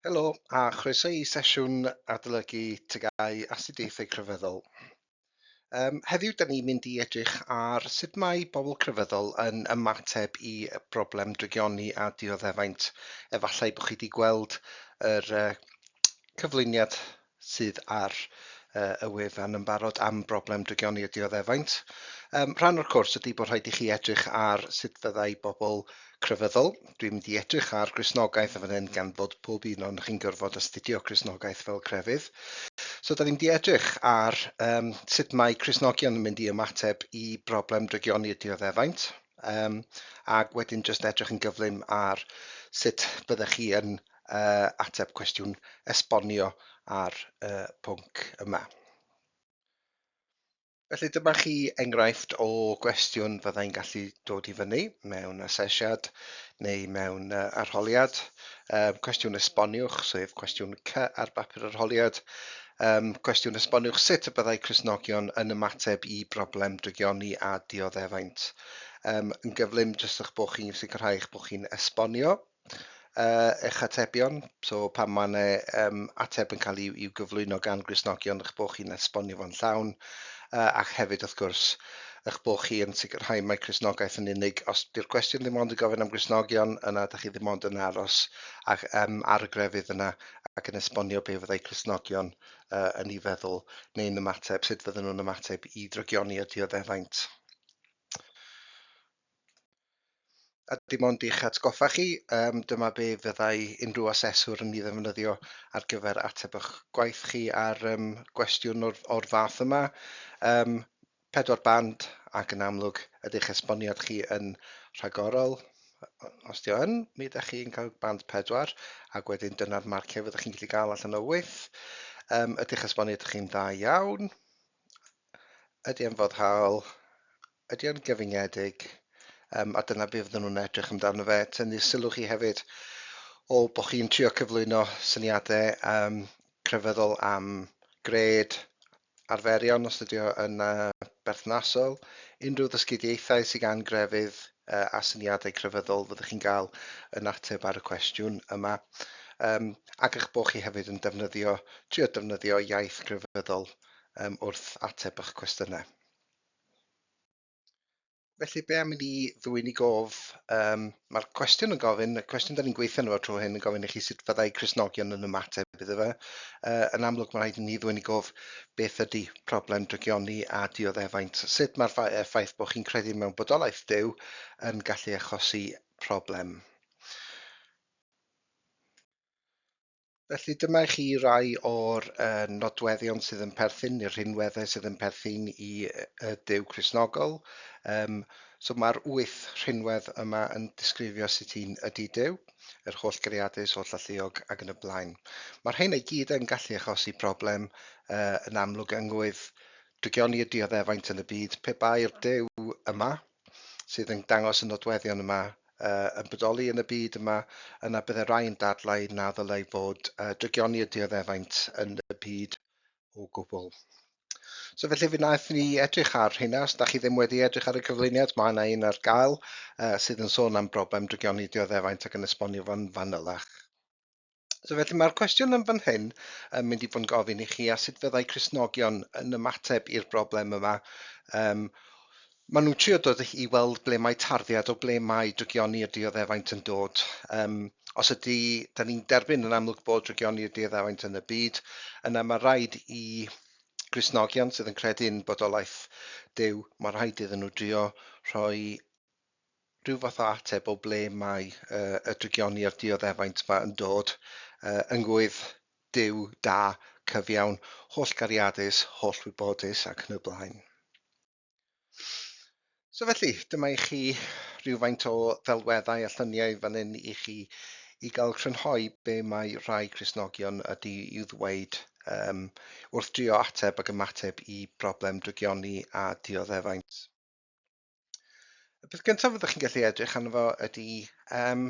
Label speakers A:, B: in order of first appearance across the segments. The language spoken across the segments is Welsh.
A: Helo a chroeso i sesiwn adolygu tygau astudiaethau crefyddol. Um, heddiw, da ni'n mynd i edrych ar sut mae pobl crefyddol yn ymateb i broblem drygioni a dioddefaint. Efallai bod chi wedi gweld yr uh, cyflwyniad sydd ar y wefan yn barod am broblem drygioni y dioddefaint. Um, rhan o'r cwrs ydy bod rhaid i chi edrych ar sut fyddai bobl crefyddol. Dwi'n mynd i edrych ar grisnogaeth yn fan hyn gan fod pob un o'n chi'n gorfod astudio grisnogaeth fel crefydd. So da ni'n mynd i edrych ar um, sut mae crisnogion yn mynd i ymateb i broblem drygioni y dioddefaint um, ac wedyn jyst edrych yn gyflym ar sut byddech chi yn uh, ateb cwestiwn esbonio ar y uh, pwnc yma. Felly dyma chi enghraifft o gwestiwn fyddai'n gallu dod i fyny mewn asesiad neu mewn uh, arholiad. Um, cwestiwn esboniwch, sef cwestiwn C ar bapur arholiad. Um, cwestiwn esboniwch sut y byddai Cresnogion yn ymateb i broblem drygioni a dioddefaint. Um, yn gyflym, jyst o'ch bod chi'n sicrhau eich bod chi'n esbonio. uh, eich atebion, so pan mae yna um, ateb yn cael ei, i'w gyflwyno gan Grisnogion, eich bod chi'n esbonio fo'n llawn, uh, ac hefyd, wrth gwrs, eich bod chi yn sicrhau mae Crisnogaeth yn unig. Os di'r cwestiwn ddim ond yn gofyn am Grisnogion, yna ydych chi ddim ond yn aros ac, um, ar y grefydd yna ac yn esbonio be fyddai Crisnogion uh, yn ei feddwl neu'n ymateb, sut fydden nhw'n ymateb i drygioni a dioddefaint. A dim ond i'ch atgoffa chi, um, dyma be fyddai unrhyw aseswr yn ei ddefnyddio ar gyfer ateb eich gwaith chi ar um, gwestiwn o'r, or fath yma. Um, pedwar band ac yn amlwg ydych esboniad chi yn rhagorol. Os di o'n, mi ydych chi'n cael band pedwar ac wedyn dyna'r marciau fyddwch chi'n gallu cael allan o wyth. Um, ydych esboniad chi'n dda iawn. Ydy e'n foddhaol? Ydy o'n gyfyngedig? Um, a dyna beth fydden nhw'n edrych amdano fe. Tynnu sylw chi hefyd o bod chi'n trio cyflwyno syniadau um, crefyddol am gred, arferion os ydy o yn uh, berthnasol, unrhyw ddysgidiaethau sydd gan grefydd uh, a syniadau crefyddol fyddwch chi'n cael yn ateb ar y cwestiwn yma. Um, ac eich bod chi hefyd yn defnyddio, trio defnyddio iaith grefyddol um, wrth ateb eich cwestiynau. Felly, be am i ni ddwy'n i gof? Um, Mae'r cwestiwn yn gofyn, y cwestiwn da ni'n gweithio nhw tro hyn yn gofyn i chi sut fyddai Cresnogion yn ymateb iddo fe. Uh, yn amlwg, mae rhaid i ni ddwy'n i gof beth ydy problem drygioni a dioddefaint. Sut mae'r ffaith bod chi'n credu mewn bodolaeth dew yn gallu achosi problem. Felly dyma i chi rai o'r uh, nodweddion sydd yn perthyn i'r rhinweddau sydd yn perthyn i y dew Cresnogol. Um, so mae'r wyth rhinwedd yma yn disgrifio sut un ydy dew, yr holl greadus, holl alluog ac yn y blaen. Mae'r rhain ei gyd yn gallu achosi broblem uh, yn amlwg yngwydd drygioni y dioddefaint yn y byd pe bai'r dew yma sydd yn dangos y nodweddion yma uh, yn bodoli yn y byd yma, yna bydde rai yn dadlau na ddylai fod uh, drygioni y dioddefaint yn y byd o gwbl. So felly fe wnaeth ni edrych ar hynna, os da chi ddim wedi edrych ar y cyflwyniad, mae yna un ar gael uh, sydd yn sôn am broblem drygioni dioddefaint ac yn esbonio fo'n fanylach. So felly mae'r cwestiwn yn fan hyn yn mynd i fod yn gofyn i chi a sut fyddai Cresnogion yn ymateb i'r broblem yma. Um, maen nhw'n trio dod i weld ble mae tarddiad o ble mae drygioni y dioddefaint yn dod. Um, os ydy, da ni'n derbyn yn amlwg bod drygioni y dioddefaint yn y byd, yna mae rhaid i Grisnogion sydd yn credu'n bodolaeth dew, mae rhaid iddyn nhw drio rhoi rhyw fath o ateb o ble mae uh, y drygioni a'r dioddefaint yma yn dod, uh, yngwydd, Duw, da, cyfiawn, holl gariadus, holl wybodus ac yn y blaen. So felly, dyma i chi rhywfaint o ddelweddau a llyniau fan hyn i chi i gael crynhoi be mae rhai Cresnogion ydy i'w ddweud um, wrth drio ateb ac ymateb i broblem drygioni a dioddefaint. Y peth gyntaf fyddwch chi'n gallu edrych arno fo ydy um,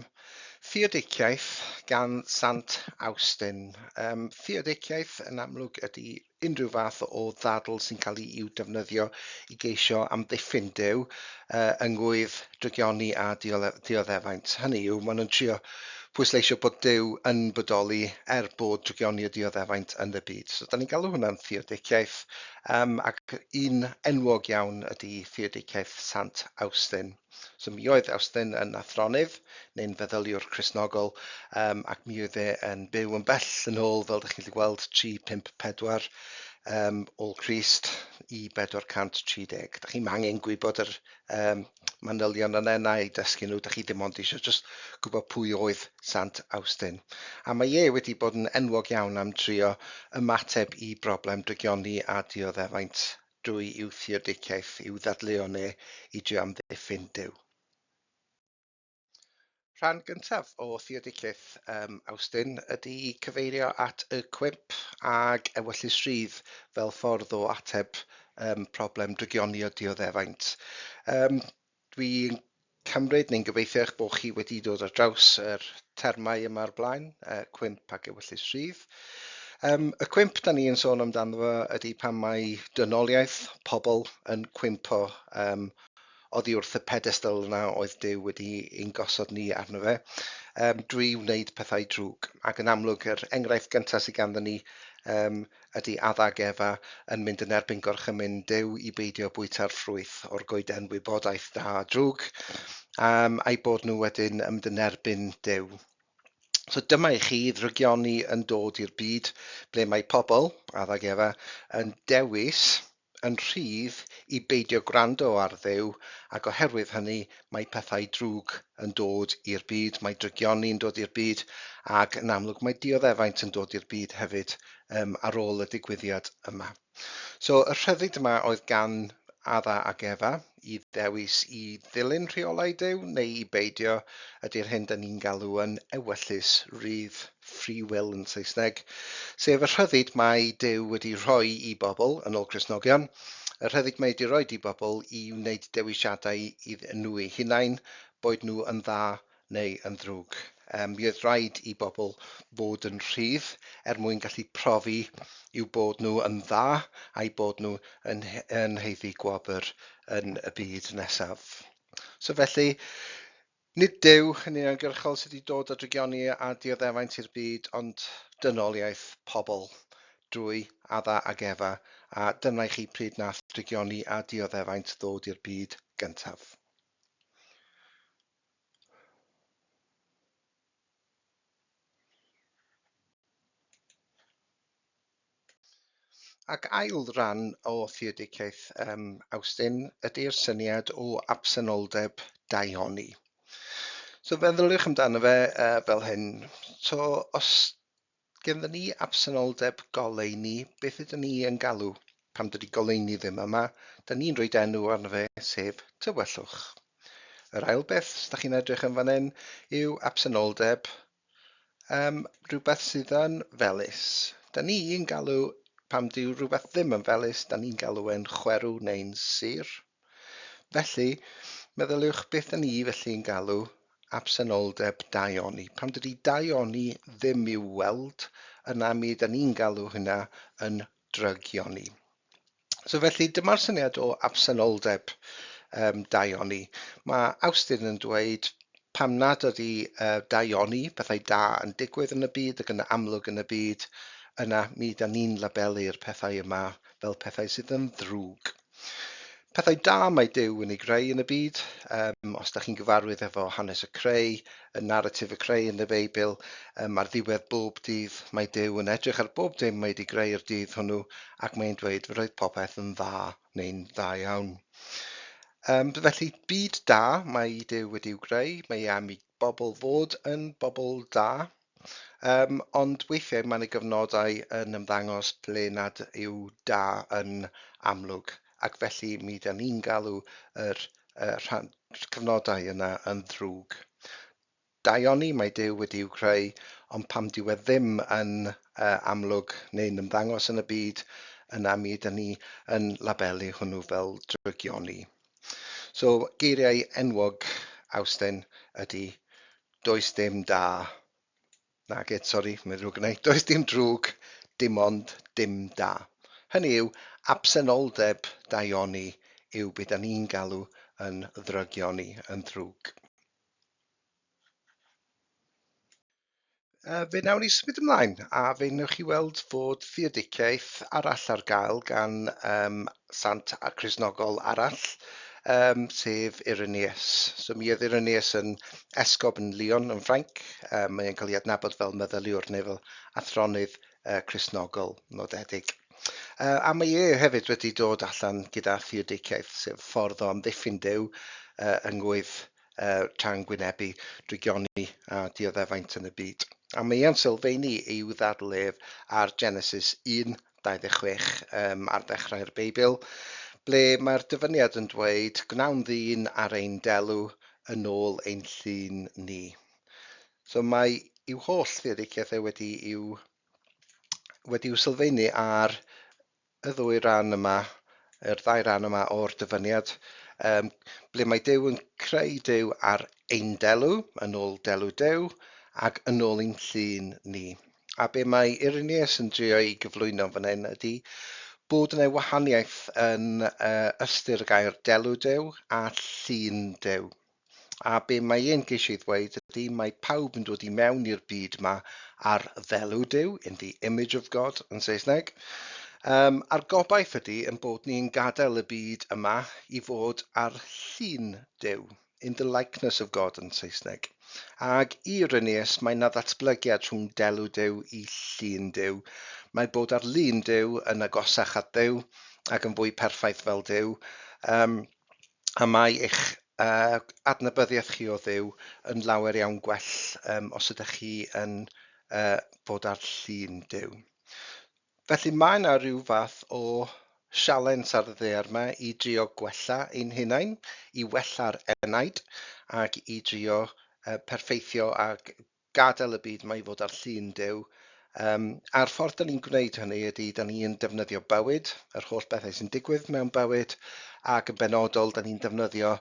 A: theodiciaeth gan Sant Awstin. Um, theodiciaeth yn amlwg ydy unrhyw fath o ddadl sy'n cael ei i'w defnyddio i geisio amddiffyn dew uh, yngwydd drygioni a dioddefaint. Hynny yw, maen nhw'n trio pwysleisio bod dew yn bodoli er bod drygioni a dioddefaint yn y byd. So, da ni'n galw hwnna'n theodiciaeth Um, ac un enwog iawn ydy Theodiciaeth Sant Awstin. So mi oedd Awstin yn athronydd neu'n feddyliwr Cresnogol um, ac mi oedd e yn byw yn bell yn ôl, fel ydych chi'n gallu gweld, 354 um, ôl Christ i 430. Da chi'n angen gwybod yr um, manylion yn enna i dysgu nhw, da chi dim ond eisiau just gwybod pwy oedd Sant Awstin. A mae e wedi bod yn enwog iawn am trio ymateb i broblem drygioni a dioddefaint drwy i'w theodiciaeth, i'w ddadleuon e i drio amddiffyn Duw. Rhan gyntaf o Theodyceth um, Awstin ydy cyfeirio at y cwymp ag ewyllys rhydd fel ffordd o ateb um, problem drygioni o dioddefaint. Um, dwi'n cymryd neu'n gobeithio eich bod chi wedi dod ar draws yr termau yma o'r blaen, uh, cwymp ac ewyllys rhydd. Um, y cwymp da ni yn sôn amdano fo ydy pan mae dynoliaeth pobl yn cwympo um, oddi wrth y pedestl yna oedd Duw wedi ein gosod ni arno fe, um, drwy wneud pethau drwg. Ac yn amlwg, yr enghraifft gyntaf sydd ganddo ni um, ydy Adda ac Efa yn mynd yn erbyn gorchymyn Duw i beidio bwyta'r ffrwyth o'r goeden wybodaeth da a drwg, um, a'i bod nhw wedyn yn mynd yn erbyn Duw. So dyma i chi ddrygioni yn dod i'r byd ble mae pobl, Adda ac Efa, yn dewis yn rhydd i beidio gwrando ar Dduw ac oherwydd hynny mae pethau drwg yn dod i'r byd, mae drygioni yn dod i'r byd ac yn amlwg mae dioddefaint yn dod i'r byd hefyd yym ar ôl y digwyddiad yma. So y rhyddid yma oedd gan Adda ac Efa. i ddewis i ddilyn rheolau Duw neu i beidio, ydy'r hyn dyn ni'n galw yn ewyllys rydd, free will yn Saesneg, sef y rhyddid mae Duw wedi rhoi i bobl, yn ôl Cristnogion, y rhyddid mae wedi rhoi i bobl i wneud dewisiadau iddyn nhw eu hunain, boed nhw yn dda neu yn ddrwg. Um, mi oedd rhaid i bobl fod yn rhydd er mwyn gallu profi i'w bod nhw yn dda a'i bod nhw yn, yn heiddi gwobr yn y byd nesaf. So felly, nid Dyw yn uniongyrchol sydd wedi dod â drygioni a dioddefaint i'r byd, ond dynoliaeth pobl drwy Adda ag Efa, a dyna i chi pryd nath drygioni a dioddefaint ddod i'r byd gyntaf. Ac ail ran o theodegau um, Awstin ydy'r syniad o absenoldeb daioni. So feddyliwch amdano fe uh, fel hyn. So os Genddyn ni absenoldeb goleuni, beth ydyn ni yn galw pan dydy goleuni ddim yma, da ni'n rhoid enw arno fe, sef tywyllwch. Yr ail beth, os da chi'n edrych yn fan hyn, yw absenoldeb um, rhywbeth sydd yn felus. Da ni'n galw, pam dyw rhywbeth ddim yn felus, da ni'n galw e'n chwerw neu'n sur. Felly, meddyliwch beth da ni felly yn galw absenoldeb daioni. Pan dydy daioni ddim i'w weld, yna mi da ni'n galw hynna yn drygioni. So felly, dyma'r syniad o absenoldeb um, daioni. Mae Awstin yn dweud pam nad ydy uh, daioni, pethau da yn digwydd yn y byd ac yn amlwg yn y byd, yna mi da ni'n labelu'r pethau yma fel pethau sydd yn ddrwg. Pethau da mae Duw yn ei greu yn y byd. Um, os da chi'n gyfarwydd efo hanes y creu, y narratif y creu yn y Beibl, um, ar ddiwedd bob dydd mae Duw yn edrych ar bob dim mae wedi greu i'r dydd hwnnw ac mae'n dweud fy roedd popeth yn dda neu'n dda iawn. Um, felly, byd da mae Duw wedi'w greu, mae am i bobl fod yn bobl da, Yym, ond weithiau mae 'na gyfnodau yn ymddangos ble nad yw da yn amlwg, ac felly mi 'dan ni'n galw yr yy rhan- cyfnodau yna yn ddrwg. Daioni mae Duw wedi i'w creu, ond pam dyw e ddim yn yy amlwg neu'n ymddangos yn y byd, yna mi ydan ni yn labelu hwnnw fel drygioni. So, geiriau enwog Awsten ydy Does dim da. Nage, sori, mae'n ddrwg yna. Does dim drwg, dim ond dim da. Hynny yw, absenoldeb daioni yw beth da ni'n galw yn ddrygioni, yn ddrwg. Fe wnawn ni symud ymlaen a fe wnewch chi weld fod theodiciaeth arall ar gael gan um, sant a Christnogol arall, yym, sef Irenaeus. So mi oedd Irenaeus yn esgob yn Lyon yn Ffrainc. Um, mae e'n cael ei adnabod fel meddyliwr neu fel athronydd uh, Christnogol nodedig. Uh, a mae e hefyd wedi dod allan gyda theodiciaeth, sef ffordd o amddiffyn dew uh, yng ngwydd uh, tra'n gwynebu drygioni a dioddefaint yn y byd. A mae e'n sylfaenu i'w ddadlef ar Genesis 1 26, um, ar ddechrau'r Beibl, ble mae'r dyfyniad yn dweud, gwnawn ddyn ar ein delw yn ôl ein llun ni. So mae i'w holl theoriciaeth e wedi i'w wedi i'w sylfaenu ar y ddwy ran yma, yr ddau ran yma o'r dyfyniad, um, ble mae Dew yn creu Dew ar ein delw, yn ôl delw Dew, ac yn ôl ein llun ni. A be mae Irenaeus yn drio ei gyflwyno fan hyn ydy bod yna wahaniaeth yn uh, ystyr y gair delw dew a llun dew. A be mae e'n geisio ei ddweud ydy mae pawb yn dod i mewn i'r byd yma ar ddelw Duw, in the image of God yn Saesneg. Um, a'r gobaith ydy yn bod ni'n gadael y byd yma i fod ar llun Duw. In the likeness of God yn Saesneg. Ag Irenaeus mae na ddatblygiad rhwng delw Duw i llun Duw. Mae bod ar lun Duw yn agosach at Dduw ac yn fwy perffaith fel Duw, um, a mae eich uh, adnabyddiaeth chi o Dduw yn lawer iawn gwell um, os ydych chi yn uh, bod ar llun Duw. Felly mae 'na ryw fath o sialens ar y ddaear 'ma i drio gwella ein hunain, i wella'r enaid, ac i drio yy perffeithio a gadael y byd 'ma i fod ar llun Duw. Yym a'r ffordd 'dan ni'n gwneud hynny ydy 'dan ni'n defnyddio bywyd, yr holl bethau sy'n digwydd mewn bywyd, ac yn benodol 'dan ni'n defnyddio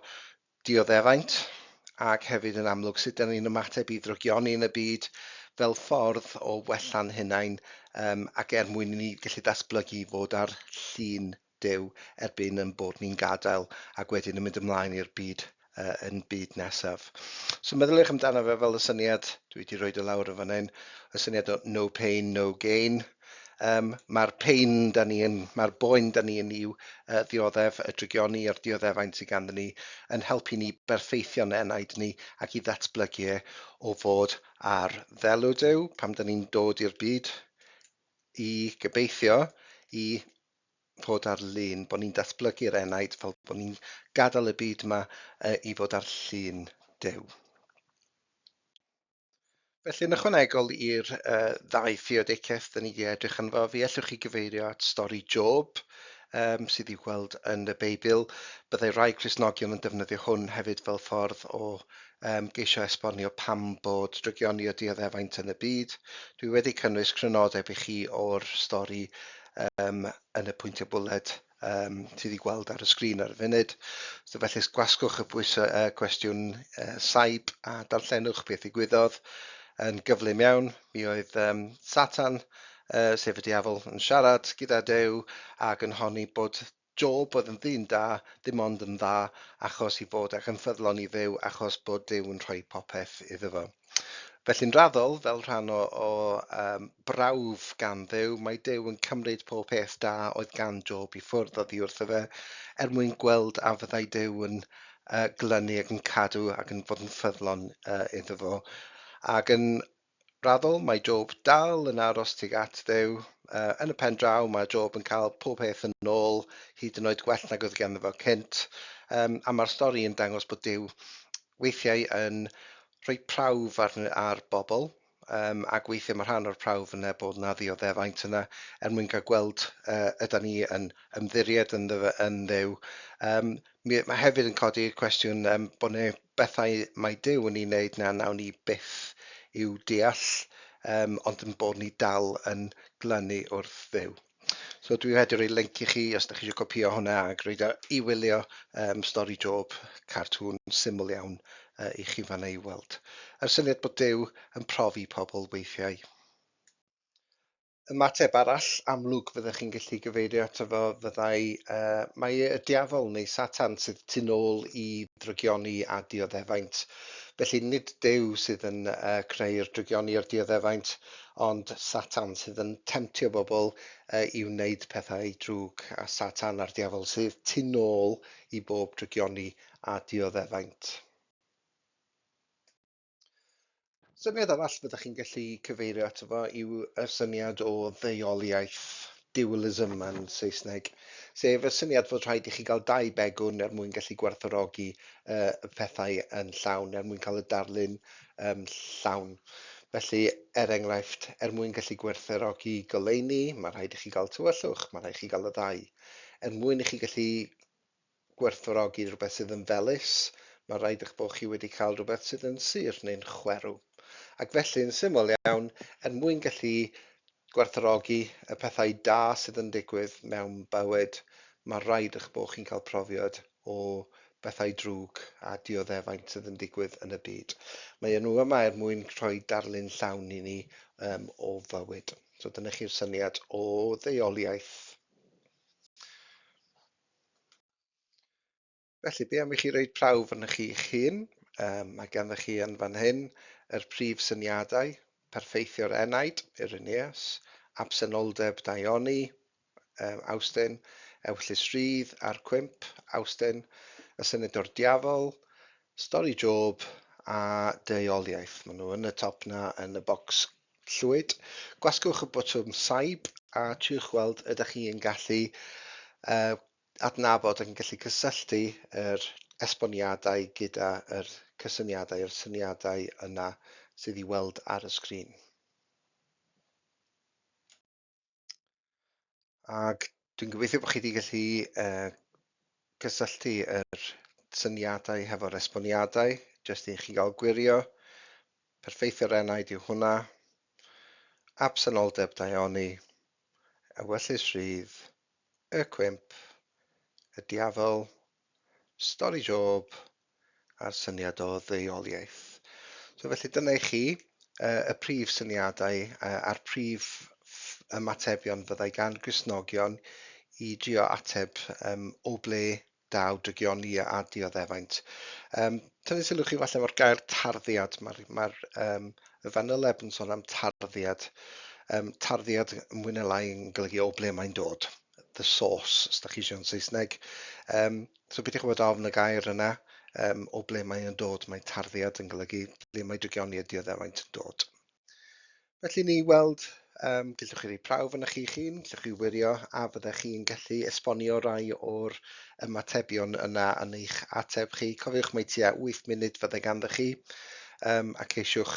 A: dioddeffaint, ac hefyd yn amlwg sut dan ni'n ymateb i ddrygioni yn y byd fel ffordd o wella'n hunain um, ac er mwyn i ni gallu datblygu fod ar llun Duw erbyn yn bod ni'n gadael ac wedyn yn mynd ymlaen i'r byd uh, yn byd nesaf. So meddyliwch amdano fe fel y syniad, dwi wedi rhoi dy lawr yn fan hyn, y syniad o no pain, no gain, Um, mae'r pain da ni yn, mae'r boen da ni yn i'w uh, ddioddef, y drygioni a'r dioddefaint sydd ganddyn ni, yn helpu ni berffeithio'n enaid ni ac i ddatblygu e o fod ar ddelw Duw pam da ni'n dod i'r byd i gybeithio i fod ar lun, bod ni'n datblygu'r enaid fel bod ni'n gadael y byd yma uh, i fod ar llun Duw. Felly, yn ychwanegol i'r uh, ddau theodegeth da ni wedi edrych yn fo, fi allwch chi gyfeirio at stori Job, um, sydd i'w gweld yn y Beibl. Byddai rai Cresnogion yn defnyddio hwn hefyd fel ffordd o um, geisio esbonio pam bod drygioni o dioddefaint yn y byd. Dwi wedi cynnwys crynodeb i chi o'r stori um, yn y pwyntiau bwled um, ti wedi gweld ar y sgrin ar y funud. So felly gwasgwch y pwysau uh, cwestiwn uh, saib a darllenwch beth i gwyddodd yn gyflym iawn. Mi oedd um, Satan, uh, sef y diafol, yn siarad gyda Dew ac yn honni bod Job oedd yn ddyn da, dim ond yn dda achos i fod ac yn ffyddlon i ddew achos bod Dew yn rhoi popeth iddo fo. Felly'n raddol, fel rhan o, o um, brawf gan ddew, mae dew yn cymryd pob peth da oedd gan Job i ffwrdd oddi wrtho fe, er mwyn gweld a fyddai dew yn uh, glynu ac yn cadw ac yn fod yn ffyddlon uh, iddo fo. Ac yn raddol, mae Job dal yn aros tuag at ddew. Uh, yn y pen draw, mae Job yn cael pob peth yn ôl, hyd yn oed gwell nag oedd ganddo fo cynt. Um, a mae'r stori yn dangos bod dew weithiau yn rhoi prawf ar ar bobl yym ac weithiau mae rhan o'r prawf yna bod yna ddioddefaint yna er mwyn cael gweld uh, yda ni yn ymddiried yn, ddefa, yn ddew. Um, mi, mae hefyd yn codi cwestiwn um, bod yna bethau mae Dyw yn ei wneud na nawn ni byth i'w deall, um, ond yn bod ni dal yn glynu wrth ddew. So dwi'n rhaid i roi link i chi os ydych chi eisiau copio hwnna ac roed i wylio um, stori Job, cartŵn syml iawn uh, i chi fanna i weld. Yr syniad bod Dyw yn profi pobl weithiau. Ymateb arall amlwg fyddech chi'n gallu gyfeirio ato fo fyddai uh, mae y diafol neu Satan sydd tu nôl i drygioni a dioddefaint. Felly nid Dyw sydd yn uh, creu'r drygioni a'r dioddefaint, Ond Satan sydd yn temtio bobl i wneud pethau drwg, a Satan a'r Diafol sydd tu nôl i bob drygioni a dioddefaint. Syniad arall fyddech chi'n gallu cyfeirio ato fo yw y syniad o ddeuoliaeth. dualism yn Saesneg, sef y syniad fod rhaid i chi gael dau begwn er mwyn gallu gwerthorogi uh, y pethau yn llawn, er mwyn cael y darlun um, llawn. Felly, er enghraifft, er mwyn gallu gwerthorogi goleuni, mae rhaid i chi gael tywyllwch, mae rhaid i chi gael y ddau. Er mwyn i chi gallu gwerthfawrogi rhywbeth sydd yn felys, mae'n rhaid eich bod chi wedi cael rhywbeth sydd yn sur neu'n chwerw. Ac felly, yn syml iawn, er mwyn gallu gwerthfawrogi y pethau da sydd yn digwydd mewn bywyd, mae'n rhaid eich bod chi'n cael profiad o bethau drwg a dioddefaint sydd yn digwydd yn y byd. Mae nhw yma er mwyn rhoi darlun llawn i ni um, o fywyd. So dyna chi'r syniad o ddeuoliaeth. Felly, be am i chi roed prawf arnoch chi eich hun? Um, mae ganddo chi yn fan hyn yr prif syniadau, perffeithio'r enaid, Irenaeus, absenoldeb Daioni, um, Awstyn, ewyllys rydd a'r cwymp, Awstyn, y senedor diafol, stori Job a deuoliaeth. Maen nhw yn y top na yn y bocs Llwyd. Gwasgwch y botwm Saib a triwch weld ydych chi yn gallu uh, adnabod ac yn gallu cysylltu yr esboniadau gyda yr cysyniadau, yr syniadau yna sydd i weld ar y sgrin. Ac dwi'n gobeithio bod chi wedi gallu uh, cysylltu yr syniadau hefo'r esboniadau, jyst i chi gael gwirio. Perfeithio'r enaid yw hwnna. Absenoldeb daioni, ewyllys rhydd, y cwimp, y diafol, Stori Job a'r syniad o ddeuoliaeth. So felly dyna i chi uh, y prif syniadau uh, a'r prif ymatebion fyddai gan grisnogion i drio ateb um, o ble daw drygioni a dioddefaint. Um, Tynnu sylw chi falle o'r gair tarddiad, mae'r ma um, y fanyleb yn sôn am tarddiad. Um, tarddiad mwy neu lai yn golygu o ble mae'n dod. the source, os da chi eisiau yn Saesneg. Um, so beth i chwbod ofn y gair yna, um, o ble mae yn dod, mae tarddiad yn golygu ble mae dygioni y dioddefaint yn dod. Felly ni weld, um, gallwch chi rei prawf yn chi chi'n, gallwch chi wirio a fyddech chi'n gallu esbonio rai o'r ymatebion yna yn eich ateb chi. Cofiwch mae tua 8 munud fyddai ganddo chi um, ac eisiwch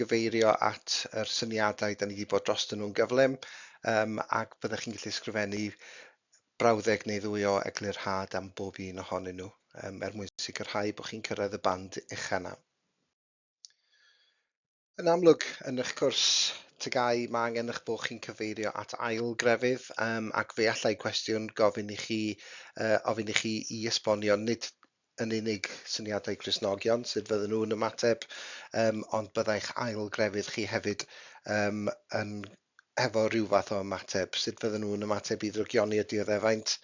A: gyfeirio at yr syniadau da ni wedi bod drostyn nhw'n gyflym um, ac byddwch chi'n gallu sgrifennu brawddeg neu ddwy o eglurhad am bob un ohonyn nhw um, er mwyn sicrhau bod chi'n cyrraedd y band uchel yna. Yn amlwg, yn eich cwrs tygau, mae angen eich bod chi'n cyfeirio at ail grefydd um, ac fe allai cwestiwn gofyn i chi, uh, ofyn i chi i esbonio nid yn unig syniadau Cristnogion, sut fydden nhw'n ymateb, um, ond byddai'ch ail grefydd chi hefyd um, yn hefo rhyw fath o ymateb, sut fydden nhw'n ymateb i ddrygioni y dioddefaint.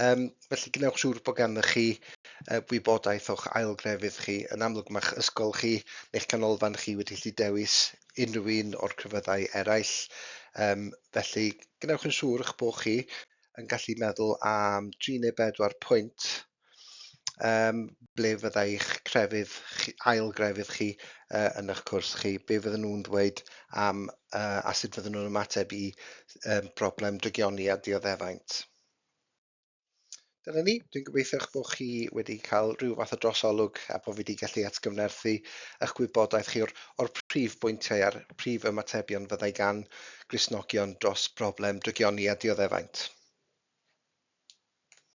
A: Um, felly gwnewch siŵr bod ganddo chi uh, wybodaeth o'ch ail grefydd chi. Yn amlwg mae'ch ysgol chi neu'ch canolfan chi wedi gallu dewis unrhyw un o'r crefyddau eraill. Um, felly gwnewch yn siŵr eich bod chi yn gallu meddwl am 3 neu 4 pwynt um, ble fyddai'ch crefydd, chi, ail grefydd chi uh, yn eich cwrs chi, be fydden nhw'n dweud am uh, a sut fydden nhw'n ymateb i um, broblem drygioni a dioddefaint. Dyna ni, dwi'n gobeithio eich bod chi wedi cael rhyw fath o drosolwg a bod fi wedi gallu atgyfnerthu eich gwybodaeth chi o'r, or prif bwyntiau a'r prif ymatebion fyddai gan grisnogion dros broblem drygioni a dioddefaint.